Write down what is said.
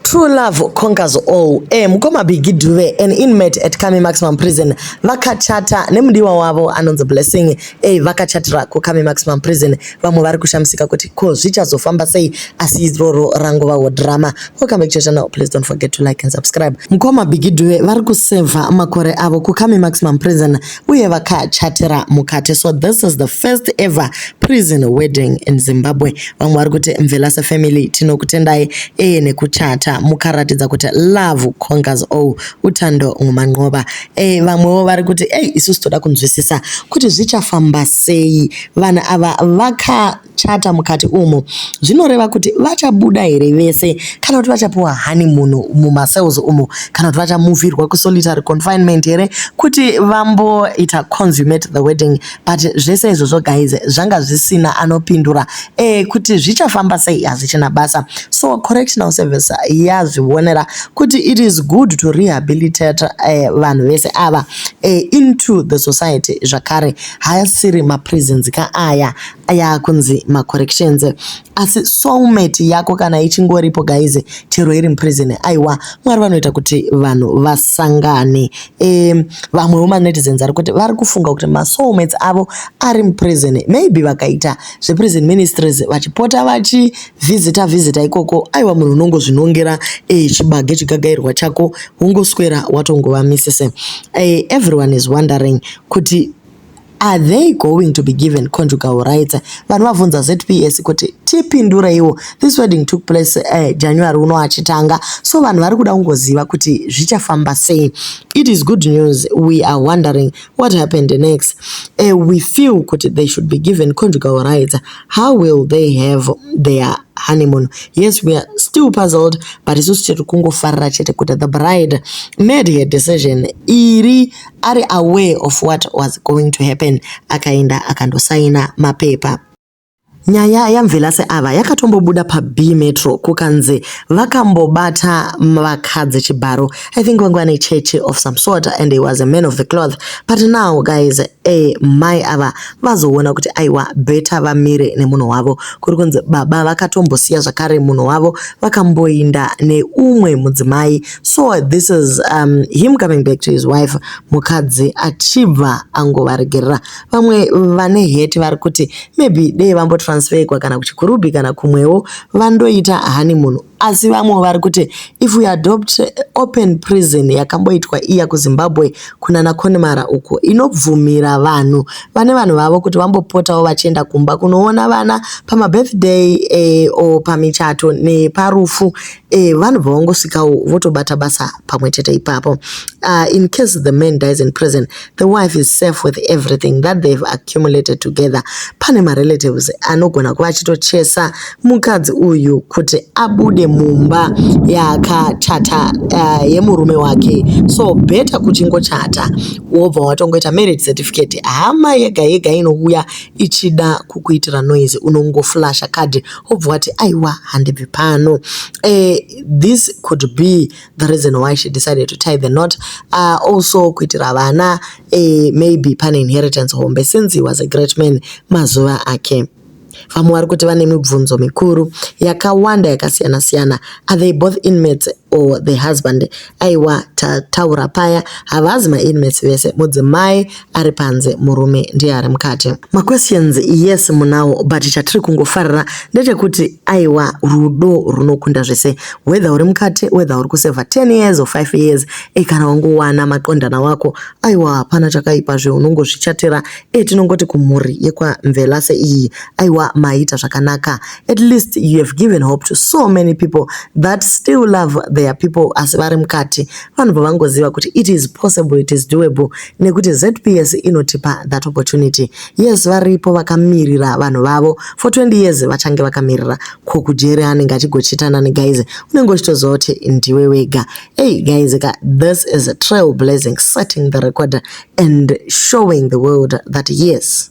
True love conquers all. Eh, mukoma Biggie Dube, an inmate at Kami Maximum Prison, vakachata nemudiwa wavo anonzi Blessing. Eh, vakachatira kuKami Maximum Prison. Vamwe vari kushamisika kuti ko zvichazofamba sei asi iroro rangovawo drama. Welcome back to channel. Please don't forget to like and subscribe. Mukoma Biggie Dube vari kuseva makore avo kuKami Maximum Prison uye vakachatira mukati so this is the first ever prison wedding in zimbabwe vamwe vari kuti mvelase family tinokutendai eye nekuchata mukaratidza kuti love congas o oh, utando ngumanqoba e vamwewo vari kuti ei isusu toda kunzwisisa kuti zvichafamba sei vanhu ava vaka vachachata mukati umu zvinoreva kuti vachabuda here vese kana kuti vachapiwa honeymoon mumacells umu kana kuti vachamuvhirwa kusolitary confinement here kuti vamboita consummate the wedding but zvese izvozvo guys zvanga zvisina anopindura e, kuti zvichafamba sei hazvichina basa so correctional service yazvionera kuti it is good to rehabilitate eh, vanhu uh, vese ava uh, into the society zvakare haasiri maprisons ka aya aya kunzi macorrections asi soulmate yako kana ichingoripo guys chero iri muprison aiwa mwari vanoita kuti vanhu vasangane e, vamwewo manetizens ari kuti vari kufunga kuti masoulmates avo ari muprison maybe vakaita zveprison ministries vachipota vachivhizita vhizita ikoko aiwa munhu unongozvinongera e, chibage chigagairwa chako wongoswera watongova misise e, everyone is wondering kuti Are they going to be given conjugal rights? Vanhu vabvunza ZPS kuti tipindureiwo. This wedding took place uh, January uno achitanga. So vanhu vari kuda kungoziva kuti zvichafamba sei. It is good news. We are wondering what happened next. Uh, we feel kuti they should be given conjugal rights. How will they have their honeymoon yes we are still puzzled but isusu tiri kungofarira chete kuti the bride made her decision iri ari aware of what was going to happen akaenda akandosaina mapepa. Nyaya yaMvelase ava yakatombobuda paBee Metro kukanzi vakambobata vakadzi chibharo. I think vanga vane church of some sort and he was a man of the cloth. But now guys, eh, mai ava vazoona kuti aiwa better vamire nemunhu wavo. Kuri kunzi baba vakatombosiya zvakare munhu wavo vakamboinda neumwe mudzimai so this is um, him coming back to his wife mukadzi achibva angovaregerera vamwe vane heti vari kuti maybe dei vambotransferwa kana kuchikurubhi kana kumwewo vandoita hani munhu asi vamwe vari kuti if we adopt open prison yakamboitwa iya kuzimbabwe kunana conmara uko inobvumira vanhu vane vanhu vavo kuti vambopotawo vachienda kumba kunoona vana pamabirthday eh, o pamichato neparufu Eh, vanobva vangosvikawo votobata basa pamwe chete ipapo uh, in case the man dies in prison the wife is safe with everything that they've accumulated together pane marelatives anogona kuva achitochesa mukadzi uyu kuti abude mumba yakachata uh, yemurume wake so beta kuchingochata wobva watongoita marriage certificate hama yega yega inouya ichida kukuitira noise unongoflasha kadhi obva wati aiwa handibvi pano uh, this could be the reason why she decided to tie the knot uh, also kuitira vana uh, maybe pane inheritance hombe since he was a great man mazuva ake vamwe vari kuti vane mibvunzo mikuru yakawanda yakasiyana-siyana are they both inmates or the husband Aiwa tataura paya havazi ma inmates vese mudzimai ari panze murume ndiye ari mukati. Ma questions yes munawo but chatiri kungofarira ndechekuti aiwa rudo runokunda zvese whether uri mukati whether uri kuseva 10 years or 5 years e kana wangowana maqondana wako aiwa hapana chakaipa zve unongozvichatira e tinongoti kumhuri yekwa Mvelase iyi aiwa maita zvakanaka at least you have given hope to so many people that still love their people asi vari mukati vanobva vangoziva kuti it is possible it is doable nekuti zps inotipa that opportunity yes varipo vakamirira vanhu vavo for 20 years vachange vakamirira ko kujeri anenge achigochitana negaize unenge uchitoziva kuti ndiwe wega hey guys ka this is a trail blazing setting the record and showing the world that yes